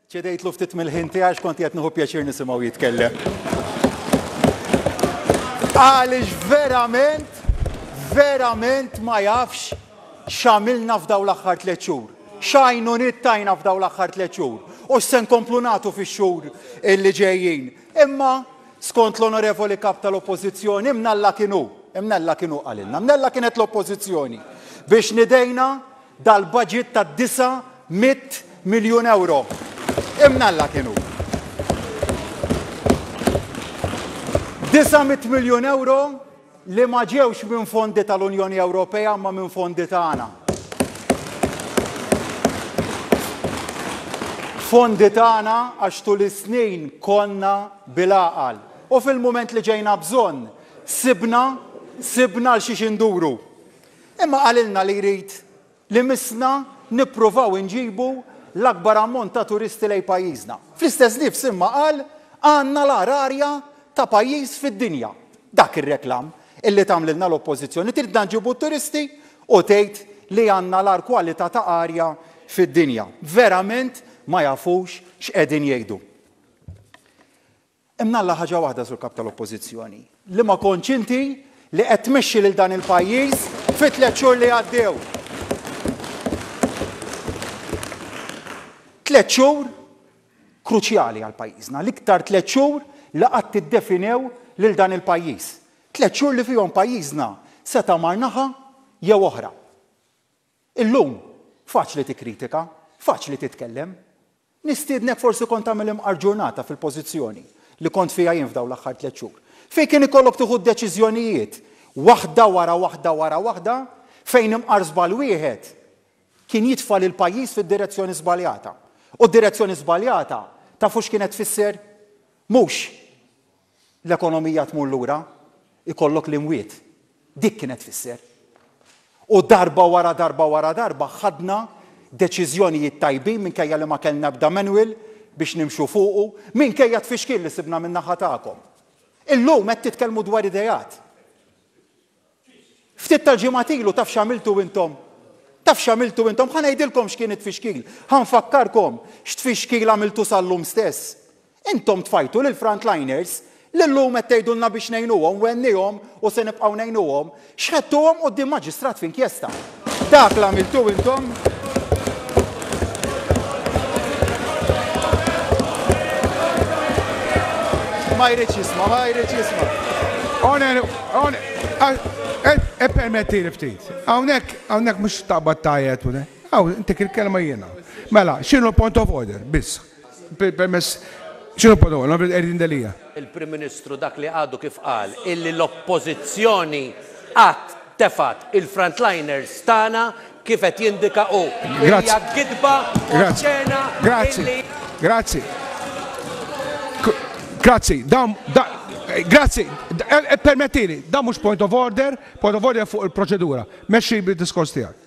ċedejtlu ftit mill-ħin tiegħi x'kont qed nieħu pjaċir nisimgħu jitkellem. Għaliex verament, verament ma jafx x'għamilna f'daw l-aħħar tliet xhur. X'għajnuniet tajna f'dawn l-aħħar tliet xhur u x'se nkomplu nagħtu fix-xhur li ġejjin. Imma, skont l-Onorevoli Kap tal-Oppożizzjoni, mnella kien hu, mnella kien hu qalilna, mnella kienet l-Oppożizzjoni biex nidejna dal-budget ta' 900 miljun ewro. Imnella kien hu. 900 miljun ewro li ma ġewx minn fondi tal-Unjoni Ewropea imma minn fondi tagħna. Fondi tagħna għax tul is-snin konna bil-għaqal. U fil-mument li ġejna bżonn, sibna, sibna għal xiex induru. Imma qalilna li jrid li missna nippruvaw inġibu l-akbar ammont ta' turisti lejn pajjiżna. Fl-istess nifs imma qal għandna l-agħar arja ta' pajjiż fid-dinja. Dak ir-reklam illi tagħmlilna l-Oppożizzjoni, tridna nġibu t-turisti u tgħid li għandna l-agħar kwalità ta' arja fid-dinja. Verament ma jafux x'qegħdin jgħidu. Hemm ngħallaq ħaġa waħda Sur Kap tal-Oppożizzjoni, li ma kontx inti li qed tmexxi lil dan il-pajjiż fit-tliet xhur li għaddew. Tliet xhur kruċjali għal pajjiżna, l-iktar tliet xhur li qatt iddefinew lil dan il-pajjiż. Tliet xhur li fihom pajjiżna seta' mar naħa jew oħra. Illum, faċli tikkritika, faċli titkellem. Nistiednek forsi kont tagħmel imqar ġurnata fil-pożizzjoni li kont fiha jien f'dawn l-aħħar tliet xhur, fejn kien ikollok tieħu d-deċiżjonijiet waħda wara waħda wara waħda, fejn imqar żball wieħed kien jitfa' lill-pajjiż fid-direzzjoni żbaljata. U d-direzzjoni żbaljata tafu x'kienet tfisser? Mhux L-ekonomija tmur lura, ikollok l-imwiet. Dik kienet tfisser. U darba wara darba wara darba ħadna deċiżjonijiet tajbin minkejja li ma kellna ebda manual biex nimxu fuqu, minkejja t-tfixkil li sibna min-naħa tagħkom. Illum qed titkellmu dwar ideat. Ftit tal-ġimgħat ilu taf x'għamiltu intom? Taf x'għamiltu intom? Ħa ngħidilkom x'kien it-tfixkil. Ħa nfakkarkom x'tfixkil għamiltu sal-lum stess. Intom tfajtu lill-frontliners li llum qed tgħidulna biex ngħinuhom u għennihom u se nibqgħu ngħinuhom, xħedtuhom quddiem maġistrat f'inkjesta. Dak l-għamiltu intom. Ma jridx jisma, ma jridx jisma. Onen, onen, e permetti li ftit. Hawnhekk, hawnhekk mhux taqbad tajet, hawn intik il-kelma jiena. Mela, x'inhu l-point of order, biss. Permess Xinu parola, nabri l-qerdin delija. Il-Prim Ministru dak li għadu kif qal illi l-Oppożizzjoni qatt tefgħet il-frontliners tagħna kif qed jindika hu. Hija gidba oċċena illi. Grazzi. Grazzi, dam, da, grazzi, e, e, permettili, da mhux point of order, point of order fuq il-proċedura. Mexxi bil-diskors tiegħek.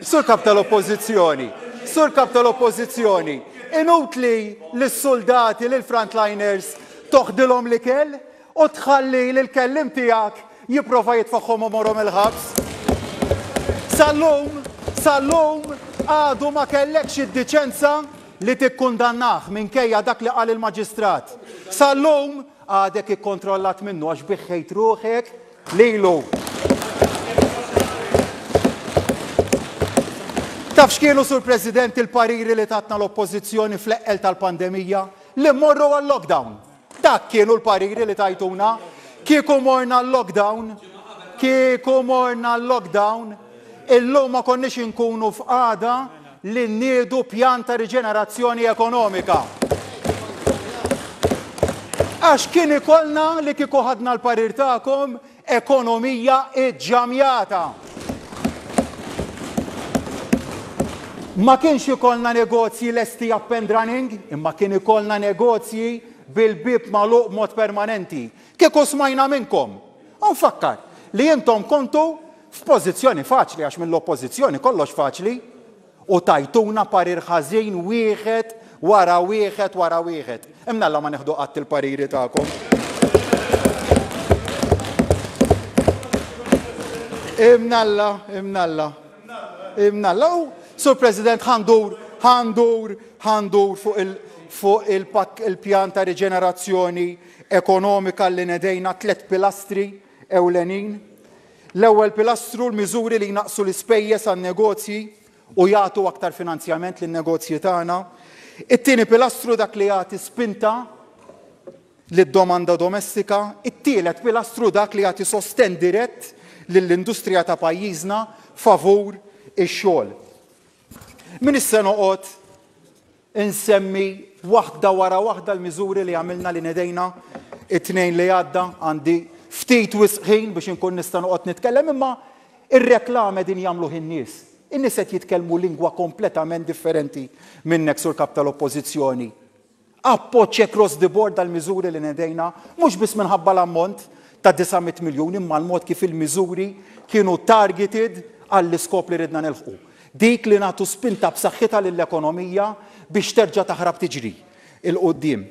Sur Kap tal-Oppożizzjoni, Sur Kap tal-Oppożizzjoni, inutli lis-suldati, lill-frontliners, toħdilhom l-ikel u tħalli lill-kelliem tiegħek jipprova jitfagħhom u morhom il-ħabs. Sal-lum, sal-lum għadu ma kellekx id-diċenza li tikkundannah minkejja dak li qal il-Maġistrat. Sal-lum għadek ikkontrollat minnu għax biħħejt ruħek Lilu. Taf x'kienu, Sur President, il-pariri li tatna l-Oppożizzjoni fl-eqqel tal-pandemija? Li mmorru għal-lockdown. Dak kienu l-pariri li tajtuna. Kieku morna għal-lockdown, kieku morna għal-lockdown, illum ma konniex inkunu f'qagħda li nniedu pjan ta' riġenerazzjoni ekonomika. Għax kien ikollna li kieku ħadna l-parir tagħkom ekonomija ġġamjata. Ma kienx ikollna negozji lesti up and running, imma kien ikollna negozji bil-bieb magħluq b'mod permanenti. Kieku smajna minnkom. U nfakkar li intom kontu F'pożizzjoni faċli għax mill-Oppożizzjoni kollox faċli u tajtuna parir ħażin wieħed wara wieħed wara wieħed. Imnalla ma neħdu qatt il-pariri tagħkom. Imnalla, imnalla, imnalla. U, Sur President, ħandur, ħandur, ħandur fuq il- fuq il-pjan ta' riġenerazzjoni ekonomika li nedejna tliet pilastri ewlenin, l-ewwel pilastru, l-miżuri li jnaqqsu l-ispejjeż għan-negozji u jagħtu aktar finanzjament lin-negozji tagħna, it-tieni pilastru, dak li jagħti spinta lid-domanda domestika, it-tielet pilastru, dak li jagħti sostenn dirett lill-industrija ta' pajjiżna favur ix-xogħol. M'iniex se noqgħod Insemmi waħda wara waħda l-miżuri li għamilna li nedejna t-Tnejn li għadda, għandi ftit wisq ħin biex inkun nista' noqgħod nitkellem imma r-reklame qegħdin jagħmluh in-nies. In-nies qed jitkellmu lingwa kompletament differenti minnek Sur Kap tal-Oppożizzjoni. Appoġġ across the board għall-miżuri li nedejna, mhux biss minħabba l-ammont ta' 900 miljun imma l-mod kif il-miżuri kienu targeted għall-iskop li ridna nilħqu. Dik li nagħtu spinta b'saħħitha lill-ekonomija biex terġa' taħrab tiġri 'l quddiem.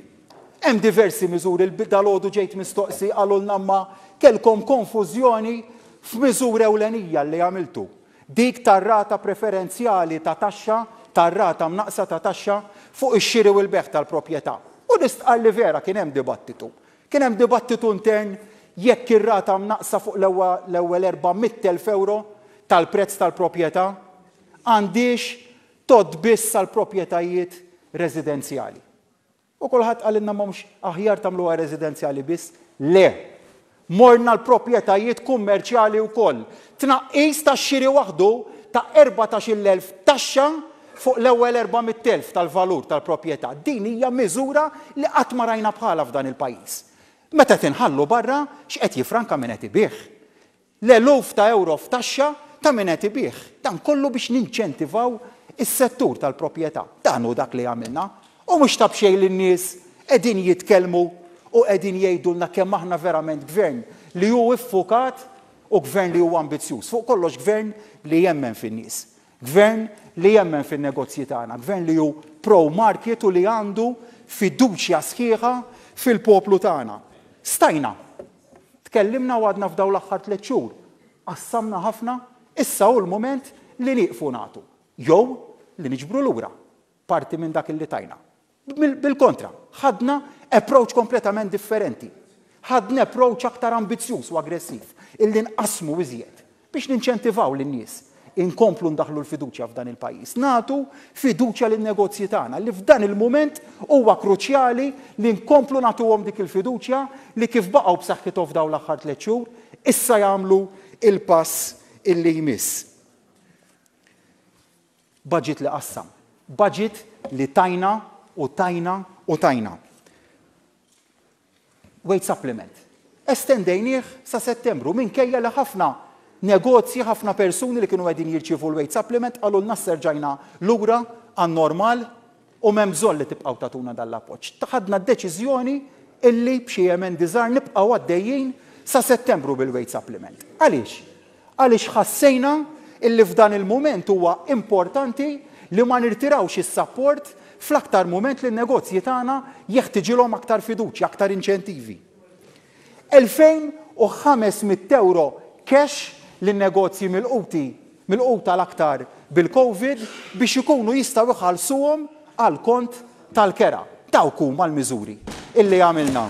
Hemm diversi miżuri l dalgħodu ġejt mistoqsi qalulna imma kellkom konfużjoni f'miżura ewlenija li għamiltu, dik tar-rata preferenzjali ta' taxxa, tar-rata mnaqqsa ta' taxxa fuq ix-xiri u l-bejgħ tal-proprjetà. U li stqarr li vera kien hemm dibattitu. Kien hemm dibattitu intern jekk ir-rata mnaqqsa fuq l-ewwel 400,000 ewro tal-prezz tal-proprjetà għandhiex tgħodd biss għal proprjetajiet residenzjali. U kulħadd qalilna ma mhux aħjar tagħmluha residenzjali biss? Le! Morna l-proprjetajiet kummerċjali wkoll. Tnaqqis tax-xiri waħdu ta' 14,000 taxxa fuq l-ewwel 400,000 tal-valur tal-proprjetà, din hija miżura li qatt ma rajna bħalha f'dan il-pajjiż. Meta qed inħallu barra x'qed jiffranka min qed ibigħ? L-eluf ta' ewro f'taxxa ta' min qed ibigħ. Dan kollu biex ninċentivaw is-settur tal-proprjetà. Dan hu dak li għamilna. U mhux ta' b'xejn li n-nies qegħdin jitkellmu u qegħdin jgħidulna kemm aħna verament Gvern li hu ffukat u Gvern li hu ambizzjuż, fuq kollox Gvern li jemmen fin-nies. Gvern li jemmen fin-negozji tagħna, Gvern li hu pro market u li għandu fiduċja sħiħa fil-poplu tagħna. Stajna! Tkellimna u għadna f'dawn l-aħħar tliet xhur qassamna ħafna, issa hu l-mument li nieqfu nagħtu jew li niġbru lura parti minn dak li tajna. Bil-kontra, ħadna approach kompletament differenti. Ħadna approach aktar ambizzjuż u aggressiv, illi nqassmu iżjed biex ninċentivaw lin-nies inkomplu ndaħħlu l-fiduċja f'dan il-pajjiż. Nagħtu fiduċja lin-negozji tagħna li f'dan il-mument huwa kruċjali li nkomplu nagħtuhom dik il-fiduċja li kif baqgħu b'saħħithom f'dawn l-aħħar tliet xhur, issa jagħmlu l-pass illi jmiss. Baġit li qassam. Baġit li tajna u tajna u tajna. Wage supplement. Estendejnieh sa Settembru minkejja li ħafna negozji, ħafna persuni li kienu qegħdin jirċievu l-wage supplement qalulna issa rġajna lura għan-normal. u m'hemm bżonn li tibqgħu tagħtuna dan l-appoġġ. Ħadna d-deċiżjoni illi b'xi emendi żgħar nibqgħu għaddejjin sa Settembru bil-weight supplement. Għaliex? Għaliex ħassejna illi f'dan il-mument huwa importanti li ma nirtirawx is-sapport fl-aktar mument li n-negozji tagħna jeħtiġilhom aktar fiduċja, aktar inċentivi. 2,500 ewro cash lin-negozji milquti milquta l-aktar bil-Covid biex ikunu jistgħu jħallsuhom għall-kont tal-kera. Dawk huma l-miżuri illi għamilna.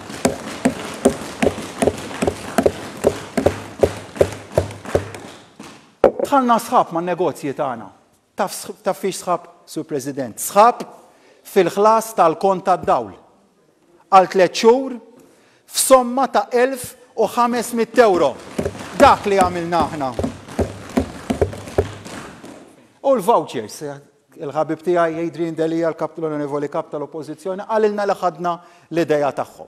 Dħalna sħab man-negozji tagħna. Taf taf fiex sħab, Sur President? Sħab fil-ħlas tal-kont tad-dawl għal tliet xhur f'somma ta' 1,500 ewro. Dak li għamilna aħna. U l-vouchers, il-ħabib tiegħi Adrian Delia, l-Kap l-Onorevoli Kap tal-Oppożizzjoni, qalilna li ħadna l-idea tagħhom.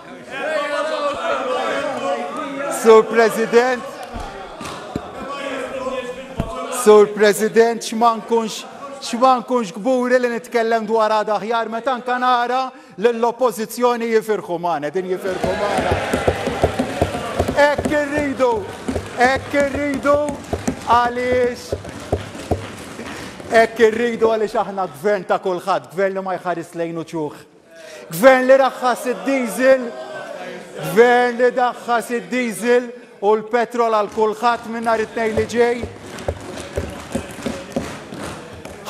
Sur President, Sur President, x'ma nkunx x'ma nkunx kburi li nitkellem dwar għada aħjar meta anka nara lill-Oppożizzjoni jifirħu magħna, din jifirħu magħna. Hekk irridu, hekk irridu għaliex hekk irridu għaliex aħna gvern ta' kulħadd, gvern li ma jħares lejn uċuħ. Gvern li raħħas id-diesel, gvern li daħħas id-diesel u l-petrol għal kulħadd minn nhar it-tnejn li ġej.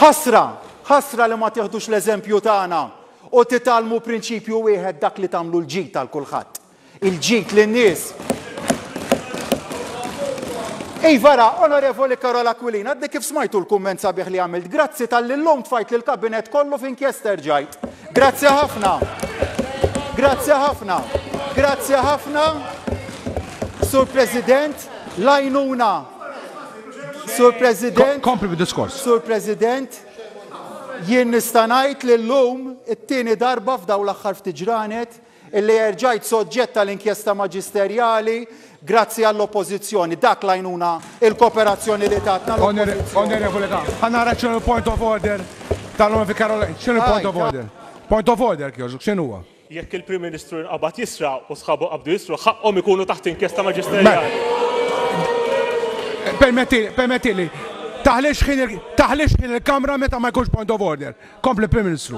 Ħasra, ħasra li ma tieħdux l-eżempju tagħna u titgħallmu prinċipju wieħed dak li tagħmlu l-ġid għal kulħadd. Il-ġid lin-nies. Iva ra, Onorevoli Karol Aquilina, għadni kif smajtu l-kumment sabiħ li għamilt. Grazzi tal-li l-lum tfajt li l-kabinet kollu fin kjester ġajt. Grazzi ħafna. Grazzi ħafna. Grazzi ħafna. Sur President, lajnuna. Sur President. Kompli bid-diskors. Sur President, jien nistanajt li l-lum it-tini darba f'daw l-axħar ftiġranet Illi erġajt soġġett għal inkjesta maġisterjali grazzi għall-Oppożizzjoni. Dak l-għajnuna, il-koperazzjoni li tatna l-Oppożizzjoni. Onorevoli ta, ħa nara x'inhu l-point of order tal-Onorevoli Caroline. X'inhu l-point of order? Point of order jekk jogħġbok, x'inhu huwa? Jekk il-Prim Ministru nqabad jisraq u sħabu qabdu jisrqu, ħaqqhom ikunu taħt inkjesta maġisterjali. Permettili, permettili. Taħlix ħin il-Kamra meta ma jkunx point of order. Kompli, Prim Ministru.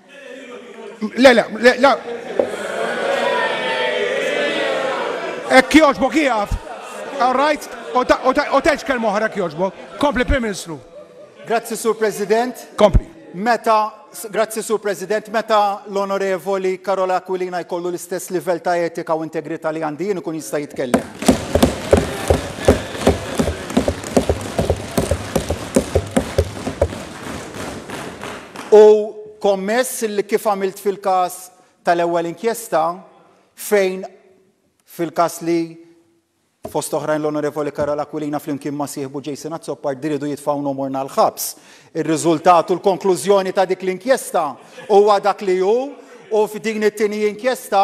Le, le, le, le. Ekk joġbok jieqaf. All right? U teġ kelma oħra ekk joġbok. Kompli Prim Ministru. Grazzi Sur President. Kompli. Meta, grazzi Sur President, meta l-Onorevoli Karola Aquilina jkollu l-istess livell ta' etika u integrità li għandi jien ikun jista' jitkellem. Hu kommess li kif għamilt fil-każ tal-ewwel inkjesta fejn fil-każ li fost oħrajn l-Onorevoli Karol Aquilina flimkien ma' sieħbu Jason Azzopardi riedu jitfgħu Nomorna l-ħabs. Ir-riżultat u l-konklużjoni ta' dik l-inkjesta huwa dak li hu u f'din it-tieni inkjesta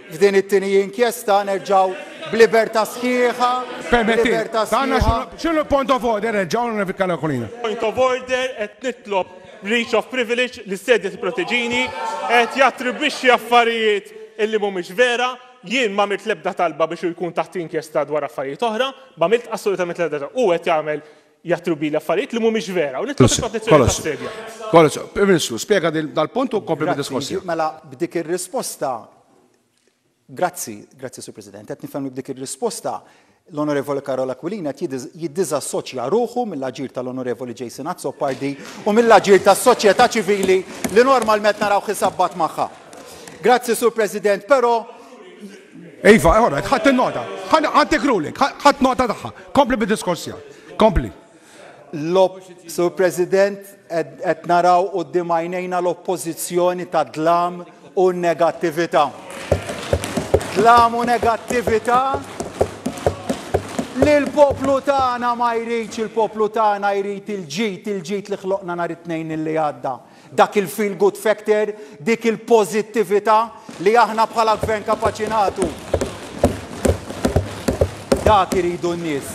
F'din it-tieni inkjesta nerġgħu b'libertà sħiħa, Permetti, b'libertà għandna sħiħa. xinu, xinu l-point of order, reġgħu, Onorevoli Carlo Aquilina. Point of order, qed nitlob breach of privilege li s-Sedja tipproteġini, qed jattribwixxi affarijiet illi mhumiex vera, jien m'għamilt l-ebda talba biex hu jkun taħt inkjesta dwar affarijiet oħra, m'għamilt assolutament l-ebda talba, hu qed jagħmel jaħtru bili affarijiet li mhumiex vera u nitlob il-protezzjoni tas-sedja. Kollox, Prim Ministru, spjega dal-punt u kompli bid-diskors tiegħek. Mela b'dik ir-risposta Grazzi, grazzi Sur President, qed nifhem li b'dik ir-risposta l-Onorevoli Karol Aquilina qed jiddiżassoċja ruħu mill-aġir tal-Onorevoli Jason Azzopardi u mill-aġir tas-soċjetà ċivili li normalment narawh isabbat magħha. Grazzi Sur President, però Iva, ora, ħadd in-nota. Ħaddik ruling, ħadd nota tagħha. Kompli bid-diskors tiegħek. Kompli. Sur President, qed naraw quddiem għajnejna l-oppożizzjoni ta' dlam u negattività. Dlam u negattività li l-poplu tagħna ma jridx, il-poplu tagħna jrid il-ġid, il-ġid li ħloqna nhar it-Tnejn li għadda. Dak il-feel good factor, dik il-pożittività li aħna bħala Gvern kapaċi nagħtu. Dak iridu n-nies.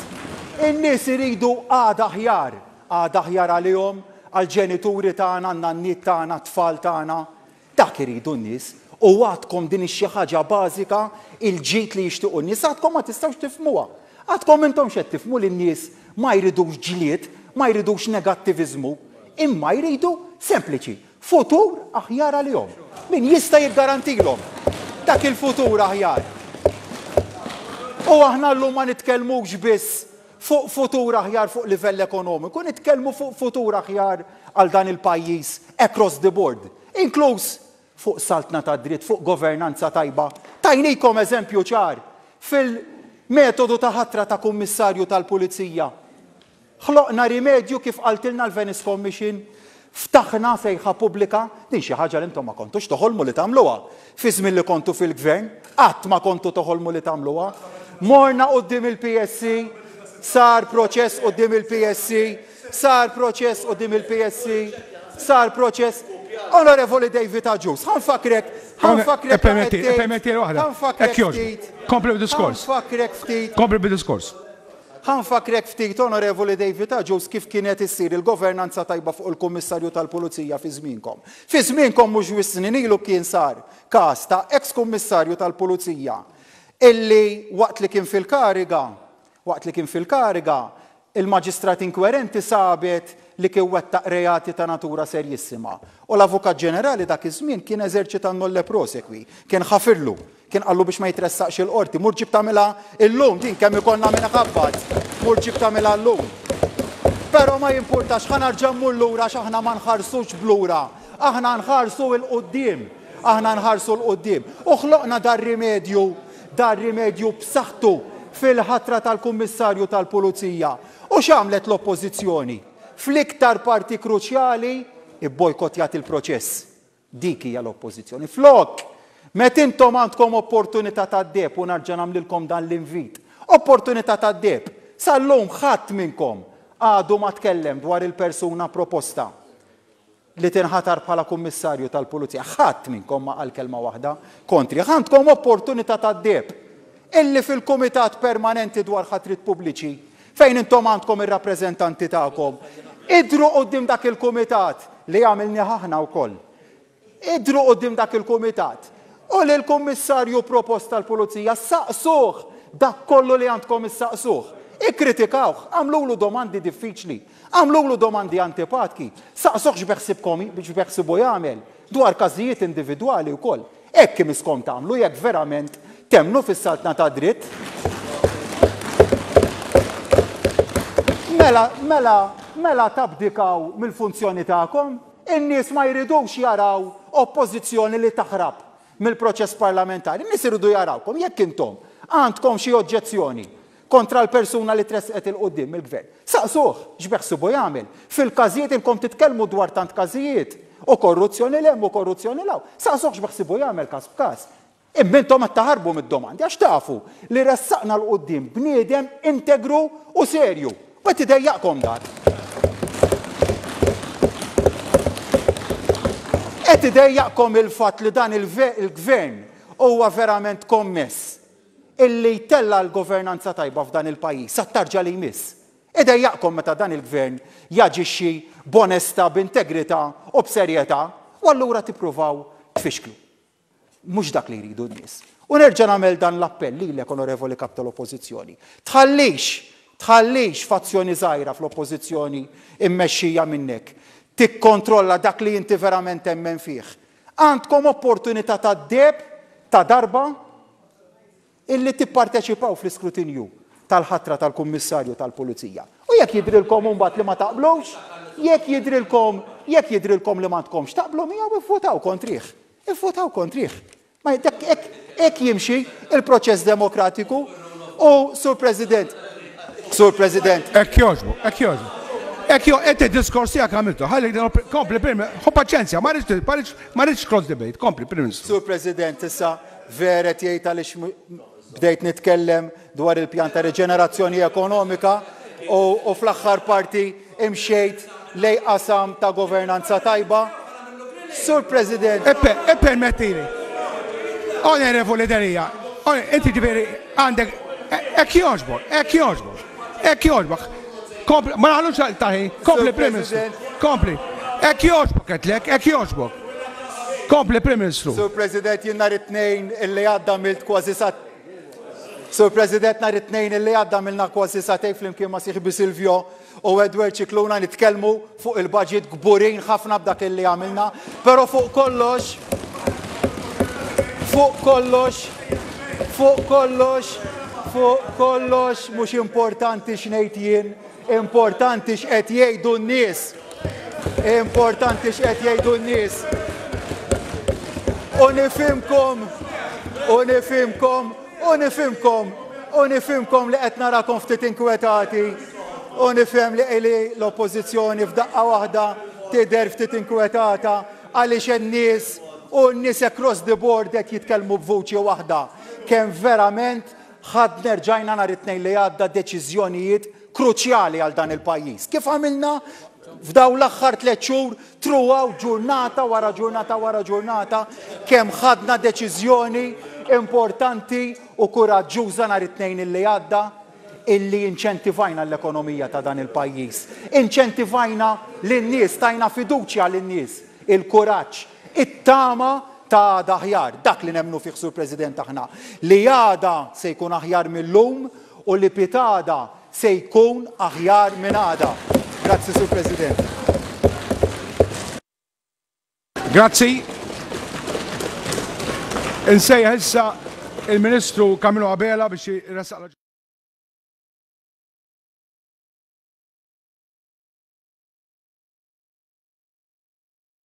In-nies iridu għada aħjar, għada aħjar għalihom, għall-ġenituri tagħna, għan-nanniet tagħna, għat-tfal tagħna. Dak iridu n-nies. U għadkom din hi xi ħaġa bażika, il-ġid li jixtiequ n-nies, għadkom ma tistgħux tifhmuha. Għadkom intomx qed tifhmu li n-nies ma jridux ġlied, ma jridux negattiviżmu, imma jridu, sempliċi, futur aħjar għalihom. Min jista' jiggarantilhom dak il-futur aħjar? U aħna llum ma nitkellmux biss fuq futur aħjar fuq livell ekonomiku, nitkellmu fuq futur aħjar għal dan il-pajjiż across the board, inkluż fuq saltna tad-dritt, fuq governanza tajba. Tajnikom eżempju ċar fil-metodu ta' ħatra ta' Kummissarju tal-Pulizija. Ħloqna rimedju kif qaltilna l-Venice Commission, ftaħna sejħa pubblika, din xi ħaġa li intom ma kontux toħolmu li tagħmluha fiż-żmien li kontu fil-Gvern, qatt ma kontu toħolmu li tagħmluha. Morna quddiem il-PSC, sar proċess quddiem il-PSC, Sar proċess quddiem il-PSC, sar proċess Onorevoli David Agius, ħa nfakkrek, ħa nfakkrek Permetti, ftit, permetti waħda. ħa nfakkrek Hekk jogħġbu. ftit, Kompli ħa bid-diskors. nfakkrek ftit, Kompli bid-diskors. ħa nfakkrek ftit, Onorevoli David Agius, kif kienet issir il-governanza tajba fuq il-Kummissarju tal-Pulizija fi żmienkom. Fi żmienkom mhux wisq snin ilu kien sar każ ta' eks-Kummissarju tal-Pulizija illi waqt li kien fil-kariga Waqt li kien fil-kariga, il-Maġistrat inkwerenti sabet li kien wettaq reati ta' natura serjissima u l-Avukat Ġenerali dak iż-żmien kien eżerċita n-nolle prosequi, kien ħafirlu, kien qallu biex ma jitressaqx il-Qorti, mur ġib tagħmilha llum din kemm ikollna min iħabbat, mur ġib tagħmilha llum. Però ma jimpurtax, ħa narġa' mmur lura għax aħna ma nħarsux b'lura, aħna nħarsu 'l quddiem, aħna nħarsu 'l quddiem. U ħloqna dar-rimedju dar rimedju b'saħħtu fil-ħatra tal-Kummissarju tal-Pulizija. U x'għamlet l-Oppożizzjoni? Fl-iktar parti kruċjali, ibbojkottjat il-proċess. Dik hija l-Oppożizzjoni. Flok, meta intom għandkom opportunità tad-deheb u nerġa' nagħmlilkom dan l-invit, opportunità tad-deheb, sal-lum ħadd minnkom għadu ma tkellem dwar il-persuna proposta. li tinħatar bħala Kummissarju tal-Pulizija, ħadd minnkom ma qal kelma waħda kontrih. Għandkom opportunità tad-deheb illi fil-Kumitat Permanenti dwar Ħatriet Pubbliċi, fejn intom għandkom ir-rappreżentanti tagħkom, idhru quddiem dak il-kumitat, li għamilnieh aħna wkoll, idhru quddiem dak il-kumitat u lill-Kummissarju propost tal-Pulizija saqsuh dak kollu li għandkom issaqsuh. Ikkritikawh, agħmlulu domandi diffiċli. Agħmlulu domandi antipatki, saqsuh x'beħsibkom j, x'beħsibu jagħmel, dwar każijiet individwali wkoll. Hekk imisskom tagħmlu jekk verament temmnu fis-saltna tad-dritt. Mela, mela, mela tabdikaw mill-funzjoni tagħkom. In-nies ma jridux jaraw Oppożizzjoni li taħrab mill-proċess parlamentari. In-nies iridu jarawkom jekk intom għandkom xi oġġezzjoni kontra l-persuna li tressqet 'il quddiem mill-Gvern. Saqsuh x'beħsibu jagħmel fil-każijiet, inkom titkellmu dwar tant każijiet u korruzzjoni 'l hemm u korruzzjoni 'l hawn, saqsuh x'beħsibu jagħmel każ b'każ. Imma intom qed taħarbu mid-domandi għax tafu li ressaqna 'l quddiem bniedem integru u serju u qed idejjaqkom dan. Qed idejjaqkom il-fatt li dan il-Gvern huwa verament kommess illi jtella' l-governanza tajba f'dan il-pajjiż għat-tarġa li jmiss. Idejjaqkom meta dan il-Gvern jaġixxi b'onestà, b'integrità u b'serjetà u allura tippruvaw tfixklu. Mhux dak li jridu n-nies. U nerġa' nagħmel dan l-appell lilek, Onorevoli Kap tal-Oppożizzjoni, tħallix, tħallix fazzjoni żgħira fl-Oppożizzjoni mmexxija minnek tikkontrolla dak li inti verament temmen fih, Għandkom opportunità tad-deheb ta' darba illi tipparteċipaw fl-iskrutinju tal-ħatra tal-Kummissarju tal-Pulizija. U jekk jidhrilkom imbagħad li ma taqblux, jekk jidhrilkom, jekk jidhrilkom li m'għandkomx taqblu miegħu ivvutaw kontrih. Ivvutaw kontrih. Ma hekk Hekk jimxi l-proċess demokratiku u, Sur President, Sur President. Hekk jogħġbu, hekk jogħġbu. Hekk jo, qed id-diskors tiegħek għamiltu. Ħalli din l-op- kompli Prim Hu paċenzja, ma rridx ma rridx ma rridx cross debate. Kompli Prim Ministru. Sur President, issa vera qed jgħid għaliex m- bdejt nitkellem dwar il-pjan ta' riġenerazzjoni ekonomika u, u fl-aħħar parti imxejt lej qasam ta' governanza tajba. Sur President. Eppe, ippermettili. Onorevoli Delia, inti ġifieri għandek hekk jogħġbok, hekk jogħġbok, hekk jogħġbok. Kompli, ma naħlux taħi, kompli Prim Ministru, kompli. Hekk jogħġbok qedlek, hekk jogħġbok. Kompli Prim Ministru. Sur President, jien nhar it-tnejn illi għadda milt kważi sa Sur President, nhar it-Tnejn li għadda għamilna kważi satejn flimkien ma' sieħbi Silvio u Edward Scicluna nitkellmu fuq il-budget kburin ħafna b'dak li għamilna, però fuq kollox fuq kollox fuq kollox fuq kollox mhux importanti x'ngħid jien Importanti x'qed jgħidu n-nies. Importanti x'qed jgħidu n-nies. U nifhimkom, u nifhimkom, u nifhimkom, u nifhimkom li qed narakom ftit inkwetati. U nifhem li qili l-Oppożizzjoni f'daqqa waħda tidher ftit inkwetata għaliex in-nies u n-nies across the board qed jitkellmu b'vuċi waħda. Kemm verament Ħadna, erġajna nhar it-Tnejn li għadda deċiżjonijiet kruċjali għal dan il-pajjiż. Kif għamilna f'dawn l-aħħar tliet xhur throughout ġurnata wara ġurnata wara ġurnata kemm ħadna deċiżjoni importanti u kuraġġuża nhar it-Tnejn illi għadda illi inċentivajna l-ekonomija ta' dan il-pajjiż. Inċentivajna lin-nies, tajna fiduċja lin-nies, il-kuraġġ, It-tama ta' għada aħjar, dak li nemmnu fih Sur President aħna, li għada se jkun aħjar mil-lum u li pitgħada se jkun aħjar minn għada. Grazzi Sur President. Grazzi. Insejjaħ issa il-Ministru Camillo Abela biex jressaq l